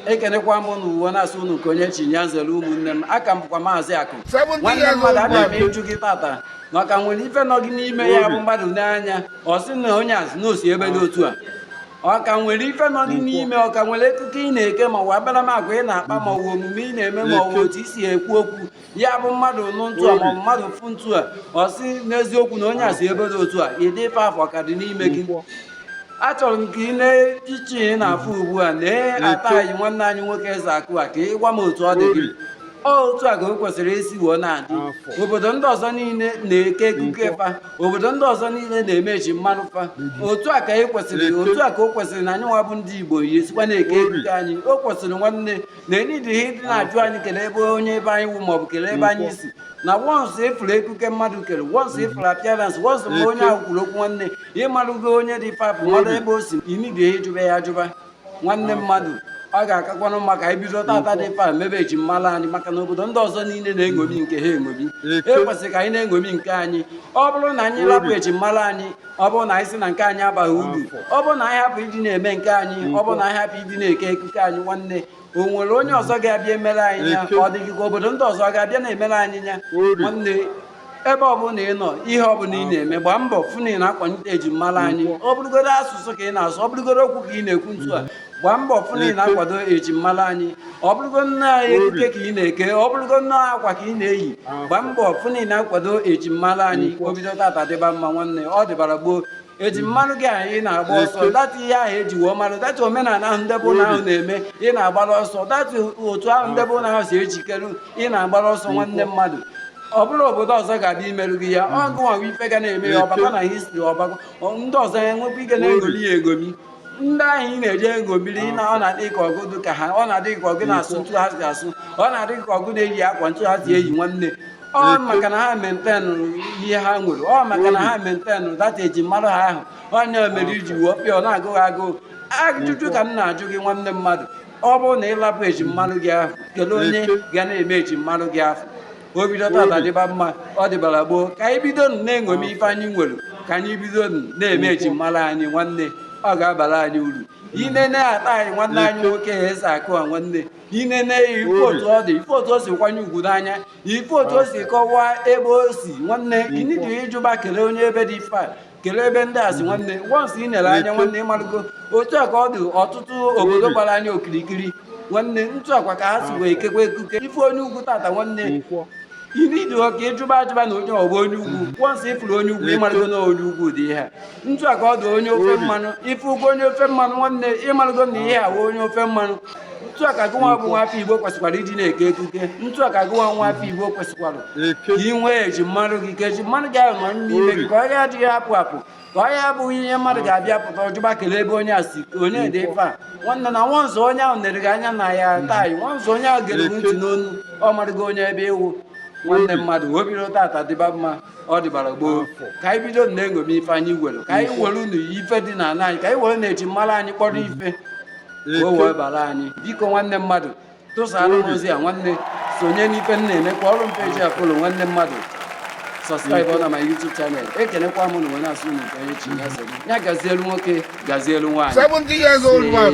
ekenekwa m unu wee na-asị unu nke onye chi ya zere ụmụnne m a ka m bụkwa maazị akụ nwanne mmadụ abịa m ịjụ gị tata ma ọ ka nwere ife nọ gị n'ime ya bụ mmadụ ne anya ọ sị na onye a si na o si ebe dị otu a ọ ka nwere ife nọ gị n'ime ọ ka nwere ekuke ị na-eke ma ọ bụ akparamagwa ị na-akpa ma ọ bụ omume ị na-eme ma ọ bụ otu i si ekwu okwu ya bụ mmadụ nụ ntu a ma ọ bụ mmadụ fụ ntu a ọ sị n'eziokwu na onye a si ebe dị otu a ụdị ife afụ ọ ka dị n'ime gị achọrọ m ka ị lee iche ị na-afụ ugbu a na actor anyị nwanne anyị nwoke eze akụ a ka ị gwa m otu ọ dị gị otu a ka o kwesịrị isi wee na-adị obodo ndị ọzọ niile na-eke ekuke fa obodo ndị ọzọ niile na-eme ejimmara fa otu a ka e kwesịrị otu a ka o kwesịrị na anyị nwa bụ ndị Igbo yi esikwa na-eke ekuke anyị o kwesịrị nwanne na e needighi ịdị na-ajụ anyị kelee ebe onye ebe anyị wụ maọbụ kelee ebe anyị si na once a fụrụ ekuke mmadụ kere once a fụrụ appearance once ma onye ahụ kwuru okwu nwanne ị marụgo onye dị ife afụ marụ ebe o si i needighi ịjụba ya ajụba nwanne mmadụ ọ ga-akakwanụ mma ka i bido tata dị ife a mebe eji mmala anyị maka na obodo ndị ọzọ niile na-eṅomi nke ha eṅomi e kwesịrị ka anyị na-eṅomi nke anyị ọ bụrụ na anyị lapụ eji mmala anyị ọ bụrụ na anyị sị na nke anyị abaghị uru ọ bụrụ na anyị hapụ ịdị na-eme nke anyị ọ bụrụ na anyị hapụ ịdị na-eke ekuke anyị nwanne o nwere onye ọzọ ga-abịa emere anyị ya ọ dịghị ka obodo ndị ọzọ ga-abịa na-emere anyị ya nwanne ebe ọbụla ị nọ ihe ọbụla ị na-eme gbaa mbọ fụ na ị na-akwalite ejimmara anyị ọ bụrụgodo asụsụ ka ị na-asụ ọ bụrụgodo okwu ka ị na-ekwu ntu a gbaa mbọ fụ na ị na-akwado ejimmara anyị ọ bụrụgo nne anyị ekike ka ị na-eke ọ bụrụgo nne akwa ka ị na-eyi gbaa mbọ fụ na ị na-akwado ejimmara anyị o bido tata dịba mma nwanne ọ dịbara gboo ejimmara gị ahụ ị na-agba ọsọ that ihe ahụ e ji wee marụ that omenala ahụ ndị be unu ahụ na-eme ị na-agbara ọsọ that otu ahụ ndị be unu ahụ si ejikere ị na-agbara ọsọ nwanne mmadụ ọ bụrọ obodo ọzọ ga-abịa imerụ gị ya ọ gụnwa ife ga na-eme ya ọ bakwa na history ọ bakwa ndị ọzọ ya enwekwa ike na-eṅomi ya eṅomi ndị ahụ ị na-eje eṅomiri na ọ na-adị ka ọ gụ dị ka ha ọ na-adị ka ọ gụ na-asụ ntu ha si asụ ọ na-adị ka ọ gụ na-eyi akwa ntu ha si eyi nwanne ọ maka na ha maintain ihe ha nwere ọ maka na ha maintain that ejimmara ha ahụ ọ ya mere i ji wee bịa ọ na-agụ gị agụụ ajụjụ ka m na-ajụ gị nwanne mmadụ ọ bụrụ na ị lapụ ejimmara gị ahụ kelee onye ga na-eme ejimmara gị ahụ o bido tata dịba mma ọ dịbara gboo ka anyị bido na-eṅomi ife anyị nwere ka anyị bido na-eme ejimmara anyị nwanne ọ ga-abara anyị uru i nene actor anyị nwanne anyị nwoke eze akụ a nwanne i nene ya ị fụ otu ọ dị ị fụ otu o si kwanye ugwu n'anya ị fụ otu o si kọwaa ebe o si nwanne i needighi ịjụba kelee onye ebe dị ife a kelee ebe ndị a si nwanne once i nere anya nwanne ị marụgo otu a ka ọ dị ọtụtụ obodo gbara anyị okirikiri nwanne ntu a kwa ka ha si wee ekekwa ekuke ị fụ onye ugwu tata nwanne i needighi ka ị jụba ajụba na onye a ọ bụ onye ugwu once ị fụrụ onye ugwu ị marụgo na onye ugwu dị ihe a ntu a ka ọ dị onye ofe mmanụ ị fụgo onye ofe mmanụ nwanne ị marụgo na ihe a onye ofe mmanụ etu a ka gị nwa bụ nwa afọ igbo kwesịkwara iji na-eke ekike etu a ka gị nwa nwa afọ igbo kwesịkwara ka ị nwee eji mara gị ka eji mara gị ahụ nọ n'ime gị ka ọ ya adịghị apụ apụ ka ọ ya abụghị ihe mmadụ ga-abịa pụta ọ jụba kelee ebe onye a si onye dị ife a nwanne na once onye ahụ nere gị anya na ya taa once onye ahụ gere gị ntị n'onu ọ marụgo onye ebe ị wụ nwanne mmadụ wee bido tata dịba mma ọ dịbara gboo ka anyị bido na-eṅomi ife anyị nwere ka anyị were ụmụ ife dị n'ala anyị ka anyị were na-eji mara anyị kpọrọ ife ka o wee bara anyị biko nwanne mmadụ tụsara m ozi a nwanne sonye n'ife m na-eme kụọrụ m page a follow nwanne mmadụ subscribe na my YouTube channel ekenekwa m unu wee na-asị unu nke onye chi ya zere ya gazielu nwoke gazielu nwaanyị 70 years old man.